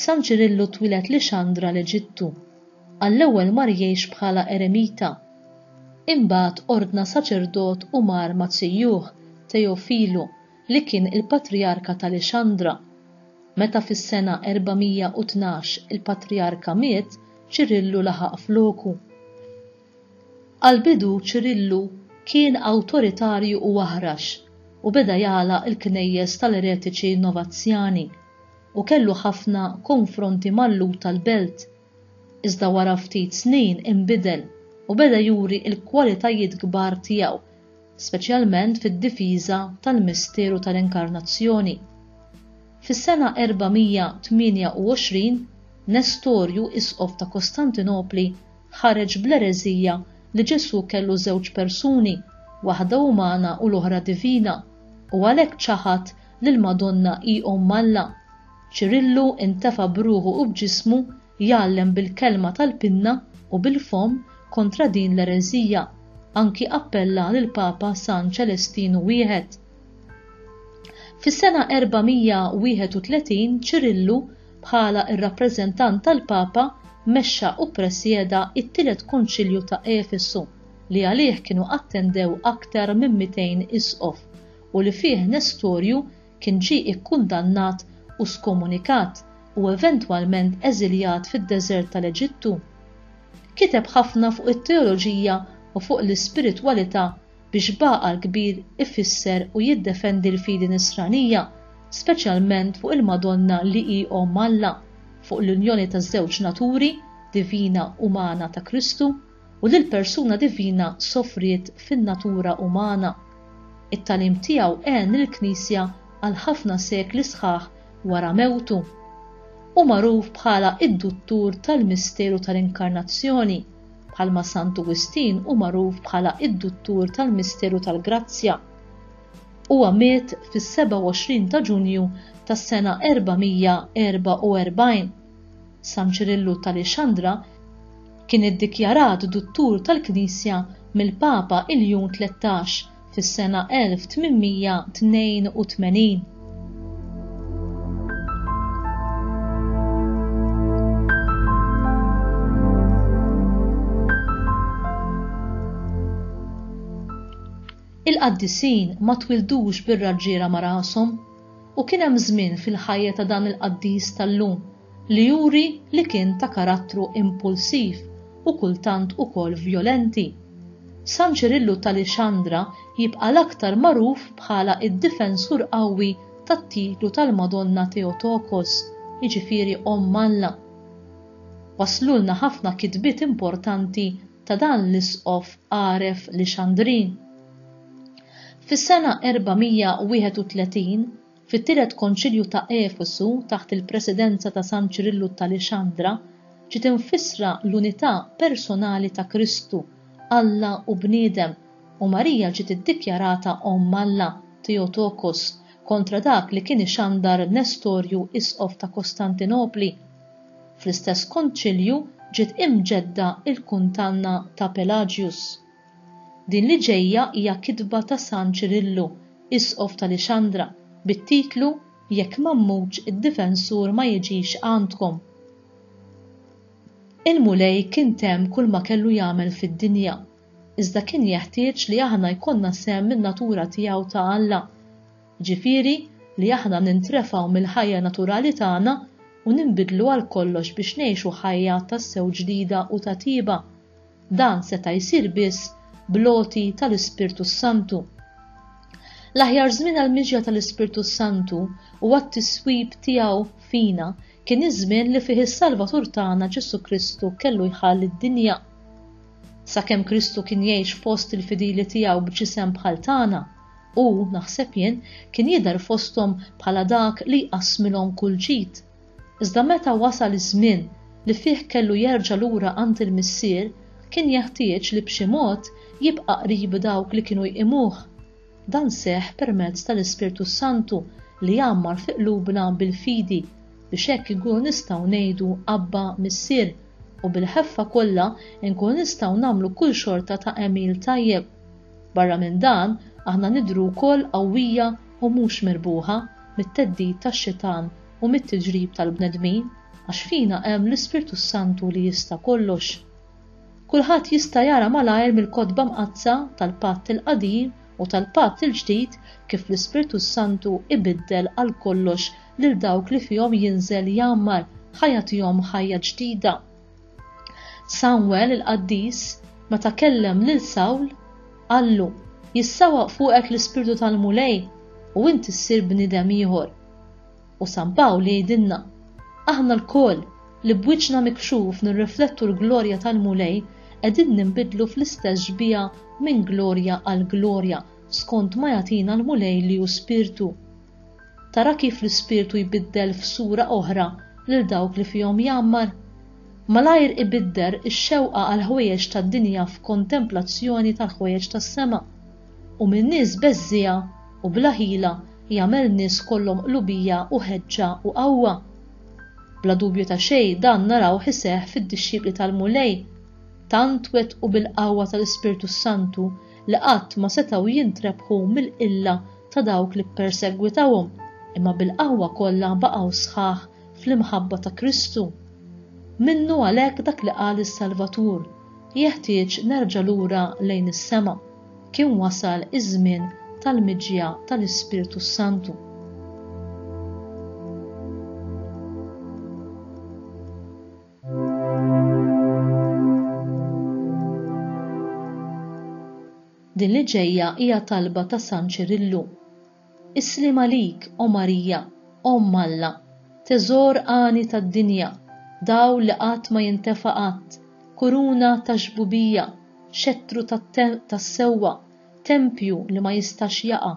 San Ċirillu twieled Lixandra l-Eġittu. Għall-ewwel mar jgħix bħala eremita. Imbagħad ordna saċerdot u mar ma' tzjuh, Teofilu, li kien il-patrijarka ta' Lixandra. Meta fis-sena 412 il-patrijarka miet, Ċirillu laħaq f'loku. Għall-bidu Ċirillu kien awtoritarju u aħrax u beda jagħlaq il-knejjes tal-eretiċi Novazzjani u kellu ħafna konfronti mal-Lhud tal-belt. Iżda wara ftit snin inbidel u beda juri l-kwalitajiet kbar tiegħu, speċjalment fid-difiża tal-misteru tal-Inkarnazzjoni. Fis-sena 428, Nestorju, isqof ta' Kostantinopli, ħareġ bl-ereżija li Ġesù kellu żewġ persuni, waħda umana u l-oħra divina, u għalhekk ċaħad li l-Madonna hi Omm Alla. Ċirillu intefa' b'ruħu u b'ġismu jgħallem bil-kelma tal-pinna u bil-fomm kontra din l-ereżija, anki appella lill-Papa San Ċelestinu I. Fis-sena 431 Ċirillu Bħala r-rappreżentant tal-Papa mexxa u ppresjeda t-Tielet Konċilju ta' Efesu, li għalih kienu attendew aktar minn 200 isqof u li fih Nestorju kien ġie ikkundannat u skomunikat u eventwalment eżiljat fid-deżert tal-Eġittu. Kiteb ħafna fuq it-teoloġija u fuq l-ispiritwalità biex b'għaqal kbir ifisser u jiddefendi l-fidi Nisranija, speċjalment fuq il-Madonna li hi Omm Alla, fuq l-unjoni taż-żewġ naturi, divina umana ta' Kristu, u li l-persuna divina sofriet fin-natura umana. It-tagħlim tiegħu għen lill-Knisja għal ħafna sekli sħaħ wara mewtu. Hu magħruf bħala id-duttur tal-misteru tal-Inkarnazzjoni. bħalma Santu Wistin hu magħruf bħala d-duttur tal-misteru tal-grazzja. Huwa miet fis-27 ta' Ġunju tas-sena 444. San Ċirillu t'Alexandra kien iddikjarat duttur tal-Knisja mill-Papa Iljun Tlettax fis-sena 1882. Il-qaddisin ma twildux bir-raġġiera ma' rashom. U kien hemm żmien fil-ħajja ta' dan il-qaddis tal-lum li juri li kien ta' karattru impulsiv u kultant ukoll vjolenti. San Ċirillu t'Alixandra jibqa' l-aktar magħruf bħala d-difensur qawwi tat-titlu tal-Madonna Theotokos, jiġifieri Omm Alla. Waslulna ħafna kitbiet importanti ta' dan l-isqof għaref Lixandrin. Fis-sena 431, fit-Tielet Konċilju ta' Efesu taħt il-presidenza ta' San Ċirillu t'Alexandra, ġiet imfissra l-unità personali ta' Kristu, Alla u bniedem, u Marija ġiet iddikjarata Omm Alla, Theotokos, kontra dak li kien ixandar Nestorju Isqof ta' Kostantinopli. Fl-istess Konċilju ġiet imġedda l-kundanna ta' Pelagius. Din li ġejja hija kitba ta' San Ċirillu, Isqof ta' Lixandra, bit-titlu Jekk m'Għammux id-Difensur ma jiġix għandkom. Il-Mulej kien temm kulma kellu jagħmel fid-dinja, iżda kien jeħtieġ li aħna jkollna sehem min-natura tiegħu ta' Alla, jiġifieri li aħna nintrefgħu mill-ħajja naturali tagħna u ninbidlu għalkollox biex ngħixu ħajja tassew ġdida u ta' tjieba, Dan seta' jsir biss bl-għoti tal-Ispirtu s-Santu. L-aħjar żmien għall-miġja tal-Ispirtu s-Santu u għat-tiswib tiegħu fina kien iż-żmien li fih is-Salvatur tagħna Ġesù Kristu kellu jħalli d-dinja. Sakemm Kristu kien jgħix fost il-fidili tiegħu b'ġisem bħal tagħna, u, naħseb jien, kien jidher fosthom bħala dak li jqassmilhom kull ġid. Iżda meta wasal iż-żmien li fih kellu jerġa' lura għand il-Missier, kien jeħtieġ li b'xi mod jibqa' qrib dawk li kienu jqimuh. Dan seħħ permezz tal-Ispirtu s-Santu li jgħammar fi qlubna bil-fidi, biex hekk inkunu nistgħu ngħidu Abba, Missier, u bil-ħeffa kollha nkunu nistgħu nagħmlu kull xorta ta' għemil tajjeb. Barra minn dan, aħna nidhru wkoll qawwija u mhux mirbuħa mit-theddid tax-Xitan u mit-tiġrib tal-bnedmin, għax fina hemm l-Ispirtu s-Santu li jista' kollox. Kulħadd jista' jara malajr mill-Kotba Mqaddsa tal-Patt il-Qadim u tal-Patt il-Ġdid kif l-Ispirtu s-Santu ibiddel għal kollox lil dawk li fihom jinżel jgħammar ħa jagħtihom ħajja ġdida. Samwel il-qaddis meta kellem lil Sawl qallu, Jissawwaq fuqek l-Ispirtu tal-Mulej u inti ssir bniedem ieħor. U San Pawl jgħidilna, Aħna lkoll li b'wiċċna mikxuf nirriflettu l-glorja tal-Mulej qegħdin ninbidlu fl-istess xbieha minn glorja għal glorja skont ma jagħtina l-Mulej li hu Spirtu. Tara kif l-Ispirtu jbiddel f'sura oħra lil dawk li fihom jgħammar? Malajr ibidder ix-xewqa għall-ħwejjeġ tad-dinja f'kontemplazzjoni tal-ħwejjeġ tas-sema, u minn nies beżżiegħa u bla ħila jagħmel nies kollhom qlubija u ħeġġa u qawwa. Bla dubju ta' xejn dan narawh iseħħ fid-dixxipli tal-Mulej, tant wettqu bil-qawwa tal-Ispirtu s-Santu li qatt ma setgħu jintrebħu mill-qilla ta' dawk li ppersegwitawhom, imma bil-qawwa kollha baqgħu sħaħ fl-imħabba ta' Kristu. Minnu għalhekk dak li qal is-Salvatur, Jeħtieġ nerġa' lura lejn is-sema. Kien wasal iż-żmien tal-miġja tal-Ispirtu s-Santu. Din li ġejja hija talba ta' San Ċirillu. Is-sliem għalik, O Marija, Omm Alla, teżor għani tad-dinja, dawl li qatt ma jintefa' qatt, kuruna tax-xbubija, xettru tas-sewwa, tempju li ma jistax jaqa',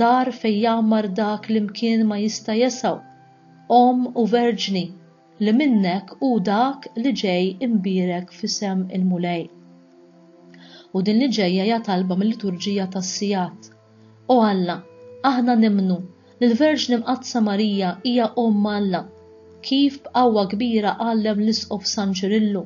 dar fejn jgħammar dak li mkien ma jista' jesgħu, Omm u Verġni, li minnek hu dak li ġej imbierek f'isem il-Mulej. U din li ġejja hija talba mil-Liturġija tas-Sigħat, O Alla, aħna nimmnu li l-Verġni Mqaddsa Marija hija Omm Alla, kif b'qawwa kbira għallem l-Isqof San Ċirillu,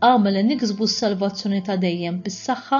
agħmel li niksbu s-salvazzjoni ta' dejjem bis-saħħa